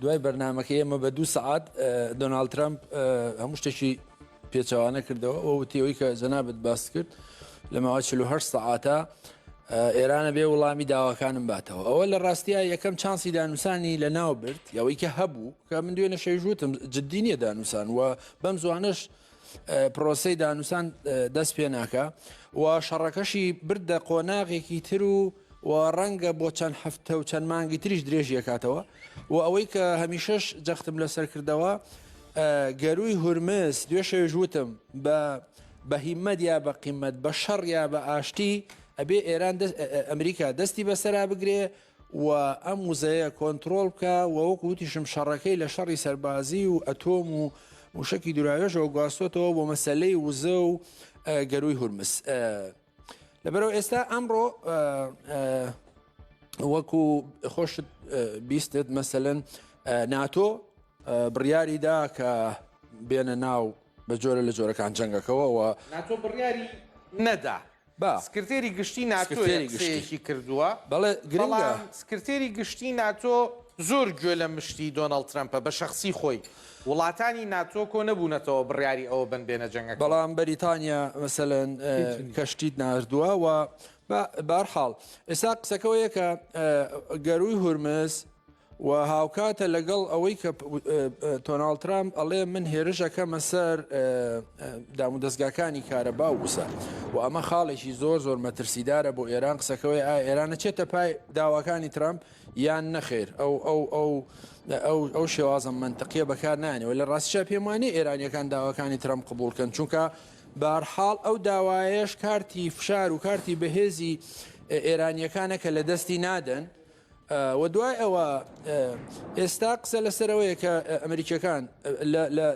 دوای بەرنمەکە ئێمە بە دوو سعات دۆناالد ترامپ هەموو شتێکی پێچوانە کردەوە ئەو وتیەوەی کە جەنابەت باس کرد لە ماوە 48 سعاتە ئێرانە بێ وڵامی داواکانم باتەوە ئەوە لە ڕاستیە یەکەم چانسی دانوسانی لە ناو برد یاوەی کە هەبوو کە من دوێنە شەژوتم جددی نیە دانوسان و بەم زوانش پرۆسەی دانوسان دەست پێ ناکا و شەڕەکەشی بردە قۆناغێکی تر و و ڕەنگە بۆ چەند هەفتە و چەند مانگی تریش درێژیەکاتەوە و ئەوەی کە هەمیشەش جەختم لەسەر کردەوە گەروی هورمس دوێ شەوێش وتم بە بە هیمەت یا بە قیمەت بە شەڕ یا بە ئاشتی ئەبێ ئێران ئەمریکا دەستی بەسەرا بگرێ و ئەم وزەیە کۆنترۆڵ بکە و وەک وتیشم شەڕەکەی لە شەڕی سەربازی و ئەتۆم و موشکی دوراوێژەوە گواستۆتەوە بۆ مەسلەی وزە و گەروی هورمس لەبەرەوە ئێستا ئەمڕۆ وەکو خۆشت بیستت مەسەن ناتۆ بڕیاریدا کە بێنە ناو بە جۆرە لە جۆرەکان جەنگەکەەوەەوە ناتۆ بڕیاری نەدا با. سکرتێری گشتی ناتۆ یە قسەیەکی کردووە بەڵام سکرتێری گشتی ناتۆ زۆر گوێ لە مشتی دۆناڵد ترەمپە بە شەخسی خۆی وڵاتانی ناتۆ کۆ نەبوونەتەوە بڕیاری ئەوە بەن بێنە جەنگەکە بەڵام بەریتانیا مەسەلەن کەشتیت ناردووە و بارحاڵ ئێستا قسەکەەوەیە کە گەروی هورمز و هاوکاتە لەگەڵ ئەوەی کە تۆناڵ ترامپ ئەڵێ من هێرش ئەکەمە سەر دام و دەستگاکانی کارەبا و وسە و ئەمە خاڵێکی زۆر زۆر مەترسیدارە بۆ ئێران قسەکەوەی ئا ئێرانە چێتە پای داواکانی ترامپ یان نەخێر ئەو ئەو ئەو ئەو ئەو شێوازە منتەقیە بەکار نانەوە لە ڕاستیشا پێم وانێ ئێرانیەکان داواکانی ترام قبولکەن چونکە بارحاڵ ئەو داوایەش کارتی فشار و کارتی بەهێزی ئێرانیەکانە کە لە دەستی نادەن وە دوای ئەوە ئێستا قسە لەسەرەوەیە کە ئەمریکیەکان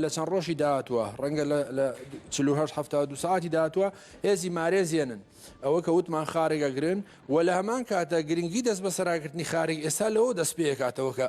لە چەند ڕۆژی داهاتوە ڕەنگە لە 1970 ساعتی داهاتوە هێزی مارێزیێنن ئەوە کە وتمان خارگەگرن و لە هەمان کاتە گرنگی دەست بە سەراکردنی خارگ ئێستا لەوە دەست پێکاتەوە کە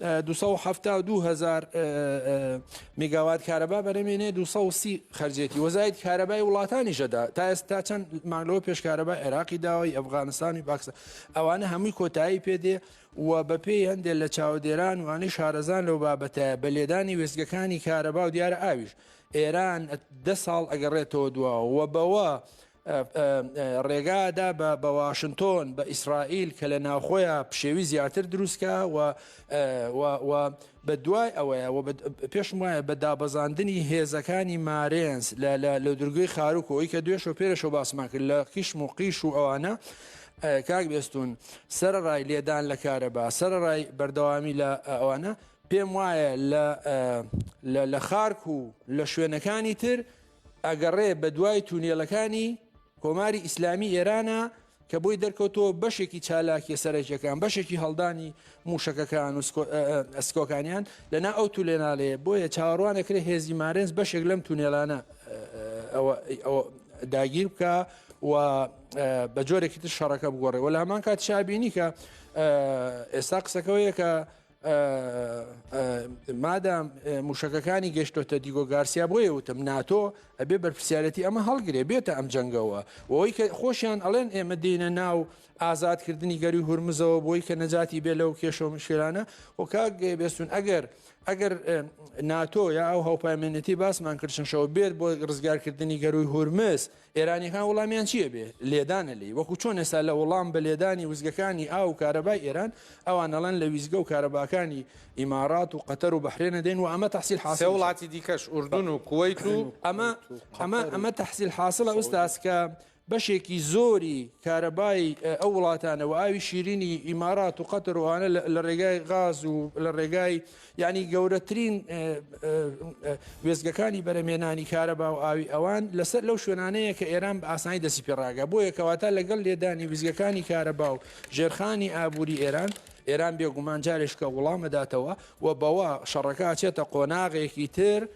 دوو سەد و حەفتا و دوو هەزار میگاوات کارەبا بەرەمێنێ دوو سەد و سی خەرجێتی وەزایت کارەبای وڵاتانیشەدا تا ئێستا چەند مانگلەوە پێشکارەبای عێراقی داوای ئەفغانستانی باکسە ئەوانە هەمووی کۆتایی پێدێ و بەپێی هەندێک لە چاودێران وانەی شارەزان لەو بابەتە بە لێدانی وێستگەکانی کارەبا و دیارە ئاویش ئێران دە ساڵ ئەگەڕێتەوە دواوە و بەوە ڕێگا دا بە واشنتۆن بە ئیسرائیل کە لە ناوخۆیان پشێوی زیاتر دروستکە و بە دوای ئەوەیە پێشم وایە بە دابەزاندنی هێزەکانی مارێنس لە درگوی خاروک ئەوی کە دوێش و پێرەشەوە باسمان کرد لە قیشم و قیش و ئەوانە کاک بێستون سەرڕای لێدان لە کارەبا سەرڕای بەردەوامی لە ئەوانە پێم وایە لە خارک و لە شوێنەکانی تر ئەگەڕێ بەدوای تونێلەکانی کۆماری ئیسلامی ئێرانە کە بۆی دەرکەوتەوە بەشێکی چالاکیە سەرەکیەکان بەشێکی هەڵدانی موشەکەکان و ئەسکۆکانیان لەنا ئەو تولێناالەیە بۆیە چاوەڕوانەکرێ هێزی مارێنز بەشێک لەم تونێلانە داگیر بکە و بە جۆرێکی تر شەڕەکە بگۆڕێ و لە هەمان کات شابینی کە ئێستا قسەکەەوەیە کە مادام موشەکەکانی گەشتۆتە دیگۆ گارسیا بۆیە وتم ناتۆ ئەبێ بەرپسیارەتی ئەمە هەڵگرێ بێتە ئەم جەنگەوە ئەوەی کە خۆشیان ئەڵێن ئێمە دێنە ناو ئازادکردنی گەری هورمزەوە بۆی کە نەجاتی بێ لەو کێشە مشکلانە وکک بێستون ئەگەر ئەگەر ناتۆ یا ئەو هەوپایمێنێتی باسمان کردشەوە بێت بۆ ڕزگارکردنی گەروی هورمز ئێرانیەکان وڵامیان چیە بێ لێدانە لێی وەکو چۆن ئێستا لە وڵام بە لێدانی وزگەکانی ئاو و کارەبای ئێران ئەوان ئەڵێن لە ویزگە و کارەباکانی ئیمارات و قەتەر و بەحرێنە دێن و ئەمە تەحسیل حاصل سێ وڵاتی دیکەش ئوردون و کوەیت و ئەمە ئەمە ئەمە تەحسیل حاصلە ئوستاز کە بەشێکی زۆری کارەبای ئەو وڵاتانەوە ئاوی شیرینی ئیمارات و قەتەر و ئەوانە لە ڕێگای غاز و لە ڕێگای یانی گەورەترین وێزگەکانی بەرەمێنانی کارەبا و ئاوی ئەوان لەسەر لەو شوێنانەیە کە ئێران بە ئاسانی دەسی پێڕاگە بۆ یەکەواتە لەگەڵ لێدانی ویزگەکانی کارەبا و ژێرخانی ئابووری ئێران ئێران بێگومان جارێشکە وڵامەداتەوە و بەوە شەڕەکە چێتە قۆناغێکی تر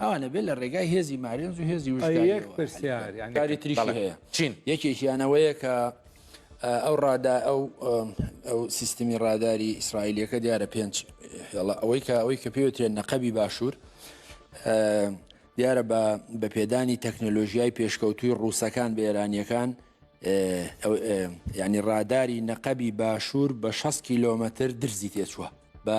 ئەوانە بێت لە ڕێگای هێزی مارێنز و هێزی وشکاری تریشی هەیە چین یەکێکیانەوەیە کە ئەو ڕادا ئەو ئەو سیستمی ڕاداری ئیسرائیلەکە دیارە پێنج هێڵە ئەوەی کە ئەوەی کە پێوتێن نەقەبی باشوور دیارە بە بە پێدانی تەکنۆلۆژیای پێشکەوتوی ڕووسەکان بە ئێرانیەکان ینی ڕاداری نەقەبی باشوور بە 6 کیلۆمەتر درزی تێچووە بە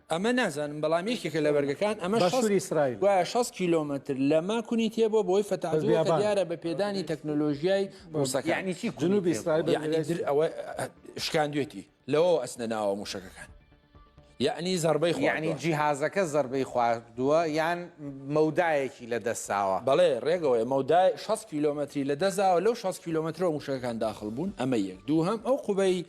ئەمە نازانم بەڵام یەکێکە لە بەرگەکان ئەمە باشووری ئیسرائیل گوایە شەست کیلۆمەتر لە ماکونی تێ بۆ بەوەی فەتاجووە کە بیابان. دیارە بە پێدانی تەکنۆلۆژیای ڕووسەکان یەعنی چی کونی جنوبی تێ ئیسرائیل بوو؟ بە یەعنی درێژ در ئەوە شکاندوێتی لەوەوە ئەچنە ناوە مووشەکەکان یەعنی زەڕبەی یەعنی خواردووە جیهازەکە زەربەی خواردووە یان مەودایەکی لە دەست داوە؟ بەڵێ ڕێگەوەیە مەودای شەست کیلۆمەتری لە دەست داوە لەو شەست کیلۆمەترەوە مووشەکەکان داخڵ بوون ئەمە یەک دووهەم ئەو قوبەی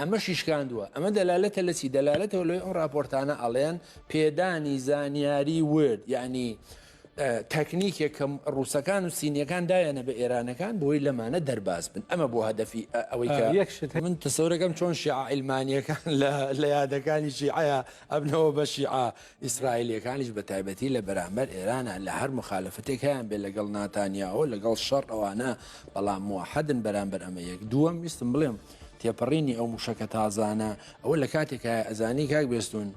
ئەمەشی شکاندووە، ئەمە دەلالەتە لە چی؟ دەلالەتەوە لەوەی ئەو راپۆرتانە ئەڵێن پێدانی زانیاری ورد یانی تەکنیکێک کە ڕووسەکان و سینیەکان دایانە بە ئێرانەکان بۆی لەمانە دەرباز بن ئەمە بۆ هەدەفی ئەوەی کە یەکشت من تەسەورەکەم چۆن شیعائلمانیەکان لە یادەکانی شیعەیە ئەبنەوە بە شیعە ئیسرائیلەکانیش بە تایبەتی لە بەرامبەر ئێرانە لە هەر مخالفتێک هەیان بێ لەگەڵ ناتانیاەوە لەگەڵ شەڕ ئەوانە بەڵام موحدن بەرامبەر ئەمە یەک دووەم ویستم بڵێم تێپەڕینی ئەو موشەکە تازانە ئەوە لە کاتێکایە ئەزانی کاک بێستون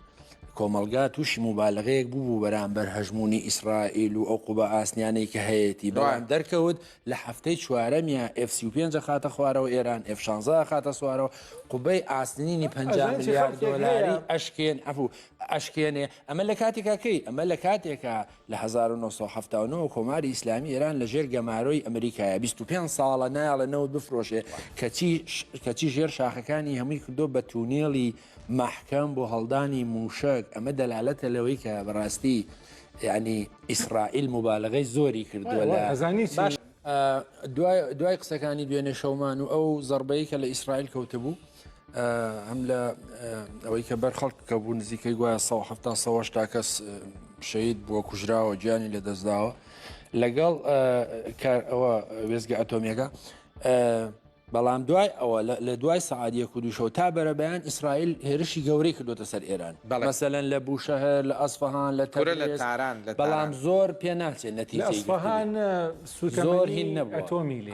کۆمەلگا تووشی موبالغەیەک بوو بەرامبەر هەژمونی ئیسرائیل و ئەو قوبە ئاسنیانەی کە هەیەی بەڵام دەرکەوت لە هەفتەی چوارەمیان F35 خاتە خوارەوە ئێران F16 خاتە سوارەوە قوبەی ئاسنینی 50 میلیارد دلاری ئەشکێن ئەفو ئەشکێنێ ئەمە لە کاتێکاکەی ئەمە لە کاتێکە لە هەزار و نۆ سەد و حەفتا و نۆ وە کۆماری ئیسلامی ئێران لە ژێر گەمارۆی ئەمریکایە بیست و پێنج ساڵە نایەڵێ نەوت بفرۆشێ کەچی کەچی ژێر شاخەکانی هەمووی کردۆ بە تونێڵی مەحکەم بۆ هەڵدانی مووشەک ئەمە دەلالەتە لەوەی کە بەڕاستی یعنی ئیسرائیل موبالەغەی زۆری کردووە لە ئەزانی باش دوای دوای قسەکانی دوێنێ شەومان و ئەو زەربەی کە لە ئیسرائیل کەوتبوو هەم لە ئەوەی کە بەر خەڵک کە بوو نزیکەی گوایە 1970 تا کەس شەید بووە کوژراوە گیانی لە دەستداوە لەگەڵ کار ئەوە وێزگە ئەتۆمیەکە بەڵام دوای ئەوە لە دوای سعادیە کودوشەوە تا بەرەبیان ئیسرائیل هێرشی گەورەی کردوتە سەر ئێران بەمەسەەن لە بوشەهر لە ئەسفهان لە تەرە لە تاران بەڵام زۆر پێ ناچێت نەتیجەهان زۆر هین نەبووەتۆمیلی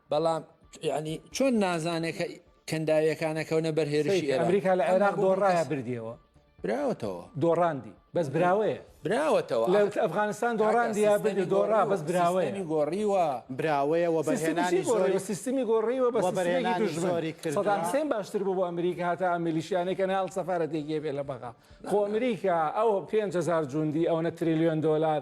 بەڵام یعنی چۆن نازانێت کە کەنداویەکانە کەونە بەر هێرشی ئەمریکا لە عێراق دۆڕایە بردیەوە براوەتەوە دۆڕاندی بەس براوەیە براوەتەوە لە ئەفغانستان دۆڕاندی بردی دۆڕا بەس براوەیە گۆڕیوە براوەیە وە بەهێنانی زۆری سیستمی گۆڕیوە بە بەرێنانی دژماری کرد سەدام سێن باشتر بوو بۆ ئەمریکا هاتە ئەمریلیشیانێک کە ناڵ سەفاەتێکی بێ لە بەغا خۆ ئەمریکا ئەو 5هزار جوندی ئەوە تریلیۆن دلار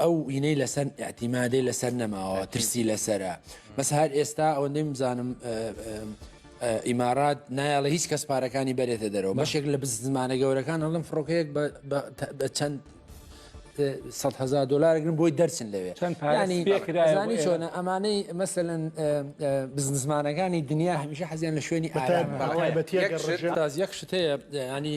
ئەو وینەی لەسەر ئەتیمادەی لەسەر نەماوە ترسی لەسرە بەس هەر ئێستا ئەوە نمزانم ئیمارات نایڵە هیچ کەس پارەکانی بەرێتە دەرەوە بەشێک لە بزمانە گەورەکان هەڵم فڕۆکەیەک بە چەند هزار دلارگرن بۆی دەرچن لەوێ چەندانی چۆنە ئەمانەی مەسەن بزنزمانەکانی دنیا هەمیشە حەزیان لە شوێنی ئارام یەک شتەیە ینی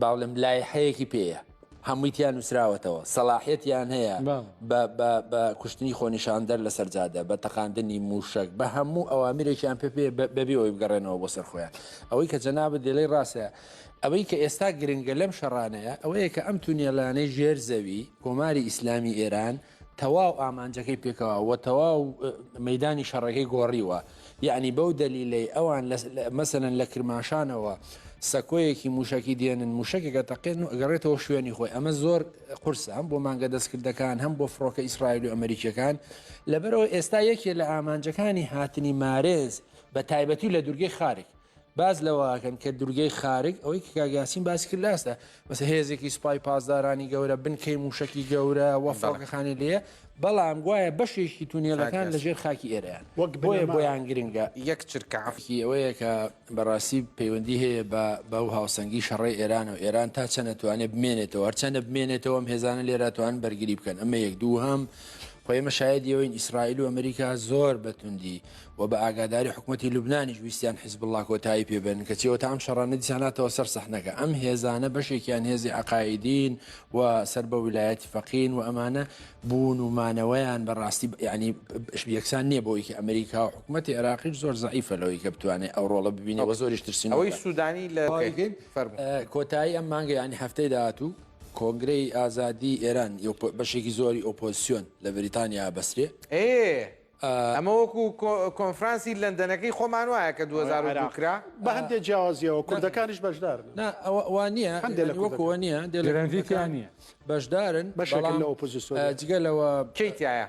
باڵم لایحەیەکی پێەیە هەموویتیان نووسراوەتەوە سەلاحەتیان هەیە بە کوشتنی خۆنیشاندەر لە سەرجادە بە تەقاندنی موشک بە هەموو ئەوامرێکیان پێ پێ بەبیەوەی بگەڕێنەوە بۆ سەر خۆیان ئەوەی کە جەناب دێلەی ڕاستە ئەوەی کە ئێستا گرنگە لەم شەڕانەیە ئەوەیە کە ئەم تونێلانەی ژێر زەوی کۆماری ئیسلامی ئێران تەواو ئامانجەکەی پێکەوە و تەواو مەدانی شەڕەکەی گۆڕیوە یعنی بەو دەلیلەی ئەوان مەسەن لە کرماشانەوە سەکۆیەکی موشکی دێنن موشکێکە تەقێن و ئەگەڕێتەوە شوێنی خۆی ئەمە زۆر قرسە هەم بۆ مانگە دەستکردەکان هەم بۆ فڕۆکە ئیسرائیل و ئەمریکیەکان لەبەرەوە ئێستا یەکێ لە ئامانجەکانی هاتنی مارێز بە تایبەتی لە دوورگەی خارێک باس لەوەکەن کە دورگەی خارگ ئەوەی کە کاگاسین باسی کرد لاسدا بەس هێزێکی سوپای پاسدارانی گەورە بنکەی موشکی گەورە وە فڕۆکەخانی لێ بەڵام گوایە بەشێکی تونێلەکان لە ژێر خاکی ئێرەیان وەک بۆیە بۆیان گرنگە یەک چرکەعافی ئەوەیە کە بەڕاستی پەیوەندی هەیە بە بەو هاوسەنگی شەڕی ئێران و ئێران تا چەنەتوانێت بمێنێتەوە هەرچەندە بمێنێتەوەم هێزانە لێراتوان بەرگری بکەن ئەمە یەک دوو هەم خۆ ئێمە شایەدی ئەوەین ئیسرائیل و ئەمریکا زۆر بە توندی و بە ئاگاداری حکوومەتی لوبنانیش ویستیان حیزبوڵڵا کۆتایی پێ بێنن کەچی ئەوەتا ئەم شەڕانە دیسان هاتەوە سەر سەحنەکە ئەم هێزانە بەشێکیان هێزی عەقائیدین و سەر بە ویلایەتی فەقین و ئەمانە بوون و مانەوەیان بەڕاستی یعنی یەکسان نییە بۆی کە ئەمریکا و حکوومەتی عێراقیش زۆر زەعیفە لەوەی کە بتوانێت ئەو ڕۆڵە ببینێ و زۆریش ترسین ئەوەی سوودانی لە کۆتایی ئەم مانگە یعنی هەفتەی داهاتوو کۆنگرەی ئازادی ئێران بەشێکی زۆری ئۆپۆزسیۆن لە بریتانیا بەسرێ. ئێ ئەمە وەکو کۆنفرانسی لەندەنەکەی خۆمان وایە کە دوو هەزار و دوو کرا. بە هەندێ جیاوازیەوە کوردەکانیش بەشدارن. نا ئەوە وا نییە هەندێ لە وەکو ئەوە نییە دێلێ گرەنڤی تیا نییە بەشدارن. بەشێکن لە ئۆپۆزسیۆن. جگە لەوە. کێی تیایە؟